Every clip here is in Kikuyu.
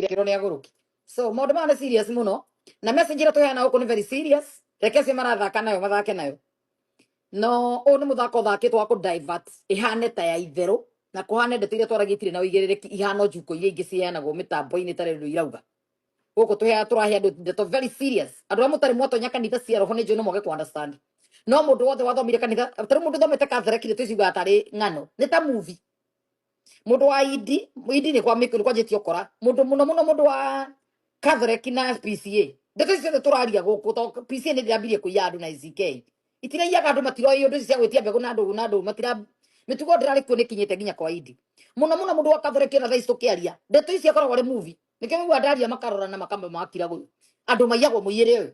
gĩkĩro nĩ agũrũki so maũndũ maya nĩ serious mũno na message ĩrĩa tũheana gũkũ nĩ very serious reke acio marathaka nayo mathake nayo no ũyũ nĩ mũthako ũthakĩtwo wa kũdivert ĩhane ta ya itherũ na kũhane ndeto iria twaragia itirĩ na ũigĩrĩrĩki ihana njukũ iria ingĩ ciheanagwo mĩtambo-inĩ ĩtarĩ ũndũ irauga gũkũ tũheaga tũrahe andũ ndeto very serious andũ arĩa mũtarĩ mwatonya kanitha cia roho nĩ njũĩ no mwage kũ understand no mũndũ wothe wathomire kanitha tarĩ mũndũ thomete Catholic nĩ tũciugaga tarĩ ng'ano nĩ ta movie mundu wa idi idi ni kwa miku ni kwa jeti okora mundu muno muno mundu wa Catholic na PCA ndeto icio ciothe turaria guku to PCA ni ndirambirie kuiya andu na ICK itiragiaga andu matiroĩ undu icio cia gwitia mbegu na ndugu na ndugu matira mitugo ndirari kuo nikinyite nginya kwa idi muno muno mundu wa Catholic ona thaici tukiaria ndeto icio akoragwo ari movie nikio wigua ndaria makarora na makamba makira guyu andu maiyagwo muiyere uyu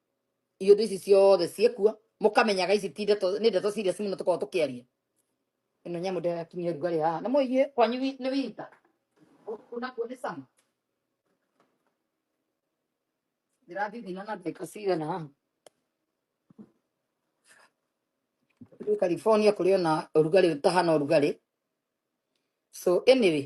iũndũ ici ciothe ciĩkuo mũkamenyaga ici ti ndeto nĩ ndeto serious mũno tũkorwo tũkĩaria ĩno nyamũ ndĩrakinyia rugarĩ haha na mũigue kwanyu wi- nĩ wita gũkũ nakuo nĩ cama ndĩrathithina na ndagĩka cigana haha Rĩu California kũrĩ ona ũrugarĩ ũtahana ũrugarĩ so anyway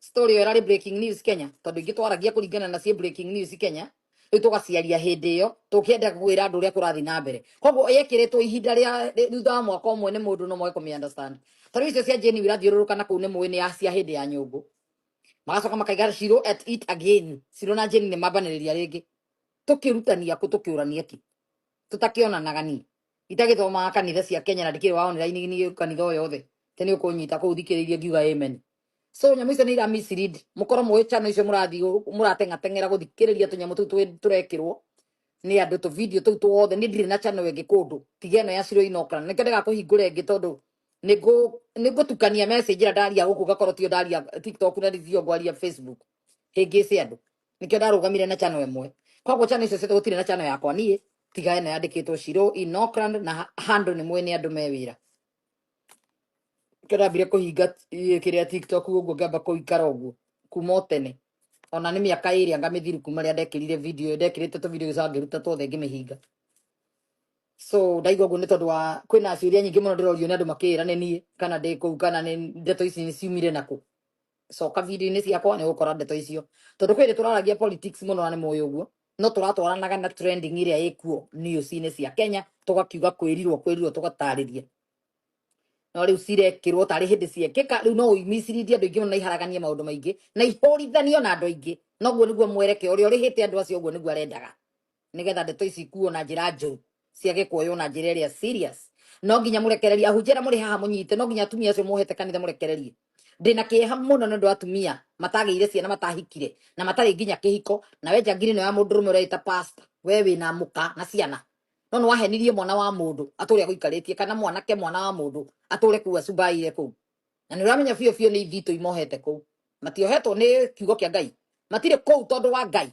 story ĩyo ĩrarĩ breaking news kenya tondũ ingĩ twaragia kũringana na ciĩ breaking news kenya rĩu tũgaciaria hĩndĩ ĩyo tũkĩenda kwĩra andũ ũrĩa kũrathiĩ na mbere koguo yekĩrĩtwo ihinda rĩa rĩ- thutha wa mwaka ũmwe nĩ mũndũ no moe kũmĩ understand ta rĩu icio cia jeni irathiũrũrũka na kũu nĩ mũĩ nĩ ya cia hĩndĩ ya nyũngũ magacoka makaiga cirũ at it again cirũ na jeni nĩ mambanĩrĩria rĩngĩ tũkĩrutania kũ tũkĩũrania kĩ tũtakĩonanaga ni itagĩthomaga kanitha cia kenya na ndikĩrĩ wa online nĩ kanitha o yothe te nĩ ũkũnyita kũu thikĩrĩirie ngiuga amen so nyamũ icio nĩ ira mislead mũkorwo mũĩ channel icio mũrathiĩ gũ- mũrateng'ateng'era gũthikĩrĩria tũnyamũ tũu twĩ- tũrekĩrwo nĩ andũ tũ video tũu tuothe nĩ ndirĩ na channel ĩngĩ kũndũ tiga ĩno ya ciro inokana nĩkĩo ndĩgakũhingũre ĩngĩ tondũ nĩngũ- nĩngũtukania message ĩrĩa ndaria gũkũ ngakorwo tiyo ndaria tiktok na ndio ngwaria facebook hĩngĩce andũ nikio ndarugamire na chano imwe koguo chano icio ciothe gutire na chano yakwa nie tiga ene yandikitwo shiro in Auckland na ha- handle ni mwene andu me wira nikio ndambire kuhinga eh, kiria tiktok uguo ngamba kuikara uguo kuma o tene ona ni miaka iri anga mithiru kuma ria ndekirire video iyo ndekirite tu video icio ngiruta tuothe ngimihinga so ndaigua guo ni tondu wa kwina ciuria nyingi muno ndirorio ni andu makira ni nie kana ndi kuu kana ni ndeto ici ni ciumire naku coka video-inĩ ciakwa nĩ ũgũkora ndeto icio tondũ kwĩrĩ tũraragia politics mũno na nĩ mũĩ ũguo no tũratwaranaga na trending ĩrĩa ĩkuo news-inĩ cia Kenya tũgakiuga kwĩrirwo kwĩrirwo tũgatarĩria no rĩu cirekĩrwo tarĩ hĩndĩ ciekĩka rĩu no ũimicirithie andũ aingĩ mũno na iharaganie maũndũ maingĩ na ihũrithanio na andũ aingĩ noguo nĩguo mwerekeo ũrĩa ũrĩhĩte andũ acio ũguo nĩguo arendaga nigetha ndeto ici ikuo na njira njuru ciage kuoywo na njira iria serious no nginya murekererie ahunjia muri haha munyite no nginya atumia acio muhete kanitha murekererie ndina kieha muno na ndu atumia matagire ciana matahikire na matari nginya kihiko na we njangiri no ya mundu rume ureita pastor we wina muka na ciana no no wahenirie mwana wa mundu ature aguikaritie kana mwanake mwana wa mundu ature kuwa cubaire kuu na nä å ramenya biå biå nä ithitå imohete kå u matiohetwo nä kiugo kä a ngai matirä kå u tondå wa ngai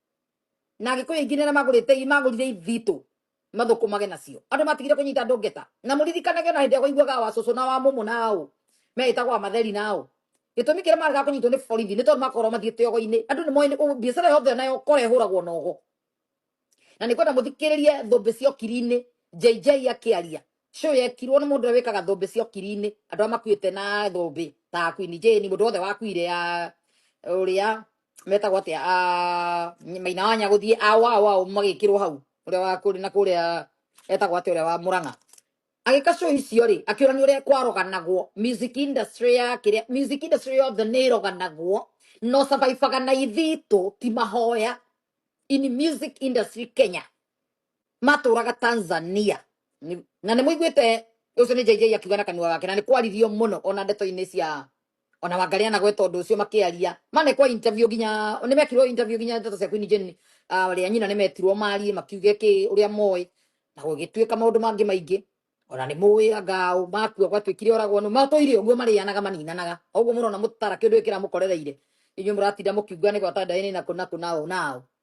na agikuyu aingi nä magurite i magurire ithitå mathukumage nacio andu matigire kunyita andu ngeta na muririkanage ona hindi ya kuiguaga wa cucu na wa mumu na au meitagwo amatheri na au gitumi kiria marega kunyitwo ni borithi ni tondu makorwo mathie kiogo-ini andu ni moĩ biacara yothe ona yokora ihuragwo na ogo na nä kwenda må thikĩrĩrie thũmbĩ cia okiri-inĩ JJ akĩaria show yekirwo nĩ mũndũ ũrĩa wĩkaga thũmbĩ cia ũkiri-inĩ andũ arĩa makuĩte na thũmbĩ ta Queen Jane mũndũ wothe wakuire ya ũrĩa metagwo atĩa ah, maina wa nyagũthiĩ awao ao magĩkĩrwo hau ũrĩa wa kũrĩ na kũrĩa etagwo atĩa ũrĩa wa mũrang'a agĩka show icio rĩ akĩũra nĩ ũrĩa kwaroganagwo music industry ya kĩrĩa music industry yothe nĩ ĩroganagwo no survivaga na ithitũ ti mahoya in music industry Kenya matũraga tanzania Nĩ- na nĩ mũiguĩte ũcio nĩ jj akiuga na kanua gake na nĩ kwaririo mũno ona ndeto-inĩ cia ona wangaria na gweta ũndũ ũcio makĩaria manekwa interview nginya nĩ mekirwo interview nginya ndeto cia kwini jeni ũrĩa nyina nĩ metirwo marie makiuge kĩ ũrĩa moĩ na gũgĩtuĩka maũndũ mangĩ maingĩ ona nĩ mũĩ anga ũ makua gwatuĩkire oragwo nũ matũire ũguo marĩanaga maninanaga ũguo mũrona mũtara kĩndũ gĩkĩra mũkorereire inyuĩ mũratinda mũkiuga nĩ gwata ndaĩnĩ na kũ na kũ na ũ na ũ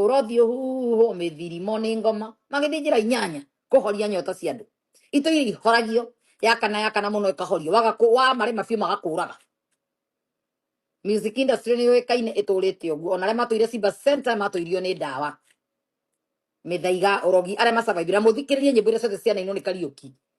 Ũrothi ũhuhwo mĩthirimo nĩ ngoma magĩthiĩ njĩra inyanya kũhoria nyota cia andũ. Itũ iria ihoragio yakana yakana mũno ĩkahorio waga kũ- wamarĩma biũ magakũraga. Music industry nĩ yũĩkaine ĩtũrĩte ũguo ona arĩa matũire Simba Center matũirio nĩ ndawa mĩthaiga ũrogi arĩa masurvivire na mũthikĩrĩrie nyĩmbo iria ciothe cianainwo nĩ Kariũki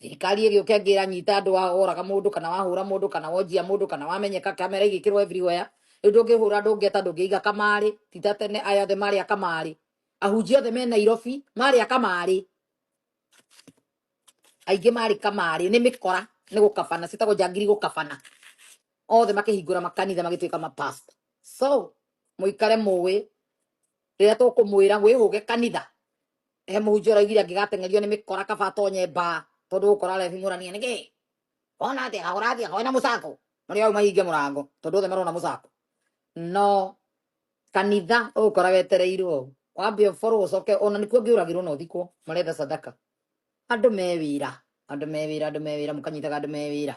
thirikari ĩgĩũke angĩ ĩranyita andũ wa oraga mũndũ kana wahũra mũndũ kana wonjia mũndũ kana wamenyeka kamera igĩkĩrwo everywhere rĩu ndũngĩhũra andũ ngeta ndũngĩiga kamarĩ ti ta tene aya othe marĩ a kamarĩ ahunjia othe me nairobi marĩ a kamarĩ aingĩ marĩ kamarĩ nĩ mĩkora nĩ gũkabana citagwo njangiri gũkabana othe makĩhingũra makanitha magĩtuĩka mapasta so mũikare mũĩ rĩrĩa tũkũmwĩra wĩhũge kanitha he mũhunjia ũraiguire angĩgateng'erio nĩ mĩkora kaba atonye mbaa tondũ gũkora arethimũrania nĩkĩ ona atĩa na ũrathiaga wĩna mũcako no nĩ auma hinge mũrango tondũ othe marona mũcako no kanitha ũgũkora wetereirwo ũũ wambe ũborwo ũcoke ona nĩkuo ngĩũragĩrwo na ũthikwo maretha sadaka andũ me wĩra andũ me wĩra andũ me wĩra mũkanyitaga andũ me wĩra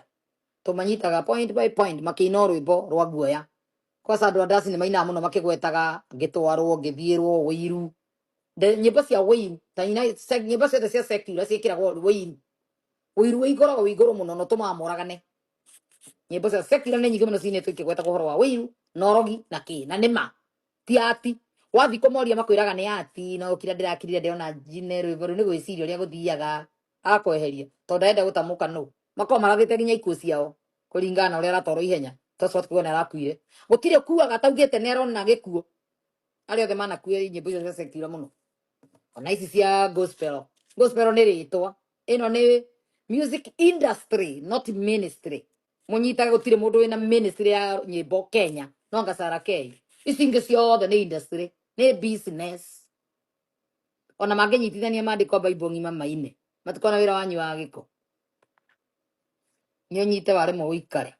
tũmanyitaga point by point makĩina rwĩmbo rwa guoya kwaca andũ a ndasi nĩ mainaga mũno makĩgwetaga ngĩtwarwo ngĩthiĩrwo ũiru The nyĩmbo cia wĩini ta ina sec- nyĩmbo ciothe cia secular ciĩkĩragwo wĩini ũiru wĩ igoro wĩ igũrũ mũno na ũtũmaga moragane nyĩmbo cia secular nĩ nyingĩ mũno ciinĩtwo ikĩgweta ũhoro wa wĩiru na ũrogi na kĩ na nĩma ti ati wathi kũmoria makwĩraga nĩ ati no kira ndĩrakirire ndĩrona njine rwĩmbo rũu nĩ gwĩciria ũrĩa gũthiaga akweheria tondũ ndarenda gũtamũka nũ makorwo marathĩte nginya ikuũ ciao kũringana na ũrĩa aratwarwo ihenya tondũ kuona arakuire gũtirĩ ũkuaga ataugĩte nĩ arona gĩkuũ arĩa othe manakuire nyĩmbo icio cia secular mũno ona ici cia gospel gospel nĩ rĩtwa ĩno nĩ music industry not ministry mũnyitaga gũtirĩ mũndũ wĩna ministry ya nyĩmbo kenya no ngacara kei ici ingĩ ciothe nĩ industry nĩ business ona mangĩnyitithania mandĩko baibũ ng'ima maine matikona wĩra wanyu wa gĩko nĩ ũnyite waremwo ũikare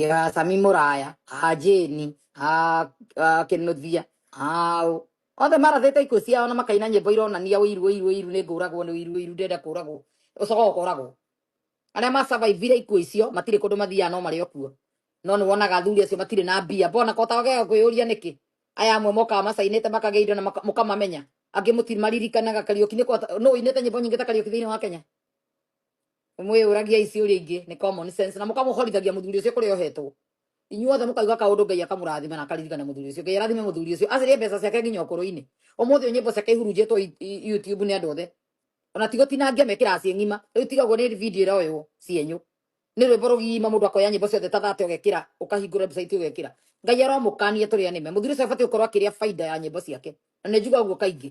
ya sami muraya a jeni a a kinuthia a ũ. othe marathĩte ikuũ ciao na makaina nyĩmbo ironania ũiru ũiru ũiru nĩ ngũragwo nĩ ũiru ũiru ndenda kũragwo ũcoka ũkoragwo arĩa macavaivire ikuũ icio matirĩ kũndũ mathiaga no marĩ o kuo no nĩ wonaga athuri acio matirĩ na mbia mbona kota wagega kwĩyũria nĩkĩ aya amwe mokaga macainĩte makagĩa indo na maka- mũkamamenya angĩ mũtimaririkanaga kariũki nĩ kota nũ inĩte nyĩmbo nyingĩ ta kariũki thĩinĩ wa kenya mwĩyũragiai ciũria ingĩ nĩ common sense na mũkamũhorithagia mũthuri ũcio kũrĩa ohetwo inyuothe mũkauga kaũndũ ngai akamũrathima na akaririkana mũthuri ũcio ngai arathime mũthuri ũcio acarie mbeca ciake nginya ũkũrũ-inĩ ũmũthĩ ũyũ nyĩmbo ciake ihurunjĩtwo i- i- youtube nĩ andũ othe ona ti gũtinangia mekĩraga ciĩ ng'ima rĩu tiga ũguo nĩ video ĩroywo cienyũ nĩ rwĩmbo rũgima mũndũ akoya nyĩmbo ciothe ta thate ũgekĩra ũkahingũra website ũgekĩra ngai aromũkania tũrĩa nĩme mũthuri ũcio abatiĩ gũkorwo akĩrĩa baida ya nyĩmbo ciake na nĩ njuga ũguo kaingĩ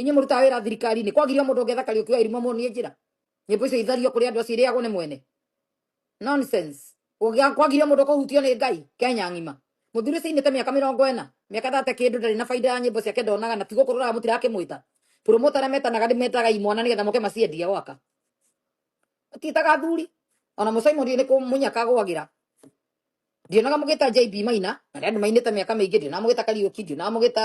inye mũrutaga wĩra thirikari-inĩ kwagirio mũndũ ũngetha kariũki wa irimũ muonie njĩra nyĩmbo icio ithario kũrĩ andũ acio irĩagwo nĩ mwene nonsense Ũgĩa- kwagirio mũndũ kũhutio nĩ ngai kenya ng'ima mũthuri ũcio ainĩte mĩaka mĩrongo ĩna mĩaka thate kĩndũ ndarĩ na baida ya nyĩmbo ciake ndonaga na ti gũkũrũraga mũtirakĩmwĩta promoter arĩa metanaga ndĩmetaga imwana nĩgetha moke maciendie gwaka matiĩtaga athuri ona mũcaimũri nĩ kũmunyaka gwagĩra ndionaga mũgĩta JB Maina na arĩa andũ mainĩte mĩaka mĩingĩ ndionaga mũgĩta Kariũki ndionaga mũgĩta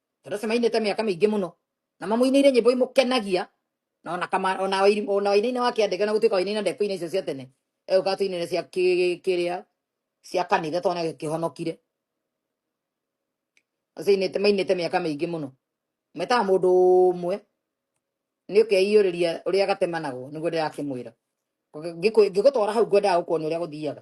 Theresa mainĩte mĩaka mĩingĩ mũno na mamũinĩire nyĩmbo imũkenagia na ona kama ona wairi- ona wainaina wa kĩandĩka na gũtuĩka wainaina ndekũina icio cia tene egũka tuinĩre cia kĩ- kĩrĩa cia kanitha twana kĩhonokire acio ainĩte mainĩte mĩaka mĩingĩ mũno metaga mũndũ ũmwe nĩ ũkeiyũrĩria ũrĩa gatemanagwo nĩguo ndĩrakĩmwĩra ngĩgũtwara hau ngwendaga gũkuonia ũrĩa gũthiaga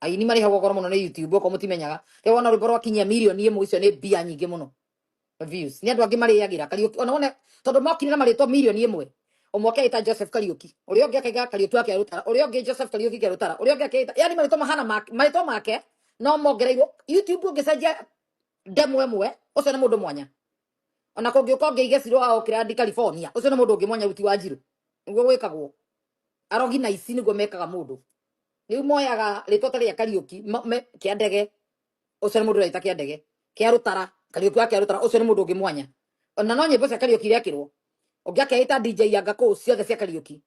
aini marĩhagwo goro mũno nĩ youtube okorwo mũtimenyaga rĩu wona rwĩmbo rwakinyia mirioni ĩmwe icio nĩ mbia nyingĩ mũno views nĩ andũ angĩ marĩagĩra kariũki ona wone tondũ mokire na marĩtwa mirioni ĩmwe ũmwe akeita joseph kariũki ũrĩa ũngĩ akaiga kariũki wake rũtara ũrĩa ũngĩ joseph kariũki ke rũtara ũrĩa ũngĩ akeita yani marĩtwa mahana make- marĩtwa make no mongereirwo youtube ũngĩcenjia ndemwa ĩmwe ũcio nĩ mũndũ mwanya ona kũngĩũka ũngĩige cirũ wa okirandi california ũcio nĩ mũndũ ũngĩ mwanya ruti wa njirũ nĩguo gwĩkagwo arogi na ici nĩguo mekaga mũndũ riu moyaga ritwa ta ria kariuki ma- me- kia ndege ucio ni mundu uraita kia ndege kia rutara kariuki wa kia rutara ucio ni mundu ungi mwanya na no nyimbo cia kariuki irekirwo ungi akeita dj yanga kuu ciothe cia kariuki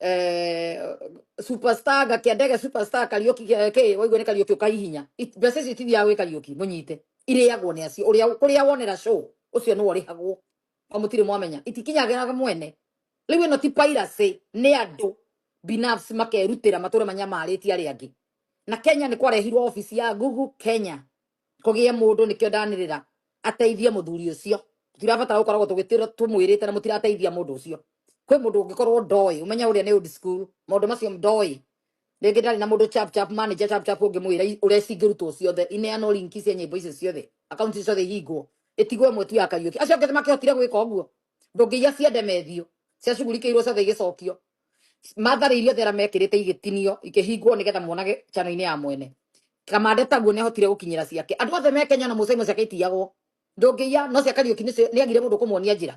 eh, superstar gakia ndege superstar kariuki eh, ki waigua ni kariuki ukaihinya It- mbeca icio itithiaga gwi kariuki munyite iriagwo ni acio uria kuria wonera show ucio ni urihagwo o mũtirĩ mwamenya itikinyagĩra mwene rĩu ĩno ti piracy nĩ andũ binafsi makerutĩra matũre manyamarĩtie arĩa angĩ na kenya nĩ kwarehirwo obici ya google kenya kũgĩe mũndũ nĩkĩo ndanĩrĩra ateithie mũthuri ũcio tũtirabatara gũkoragwo tũgĩtĩra tũmwĩrĩte na mũtirateithia mũndũ ũcio kwĩ mũndũ ũngĩkorwo ndoĩ ũmenye ũrĩa nĩ old school maũndũ macio ndoĩ rĩngĩ ndarĩ na mũndũ chap chap manager chap chap ũngĩmwĩra i- ũreci ingĩrutwo ciothe ineanwo linki cia nyĩmbo icio ciothe akaunti ciothe ihingwo ĩtigwo ĩmwe tu ya kariũki acio angĩ makĩhotire gwĩka ũguo ndũngĩiya cia ndemethio cia cugurikĩirwo ciothe igĩcokio mathari iria thera mekĩrĩte igĩtinio ikĩhingwo nĩgetha monage chano-inĩ ya mwene kamande taguo nĩ ahotire gũkinyĩra ciake andũ othe me kenya na mũcaimo ciake itiyagwo ndũngĩiya no cia kariũki nĩ agire mũndũ kũmuonia njĩra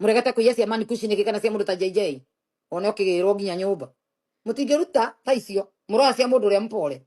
muregete kuiya cia man kushi niki kana cia mundu ta jj one ukigirwo nginya nyumba mutingiruta ta icio muroya cia mundu uria mpore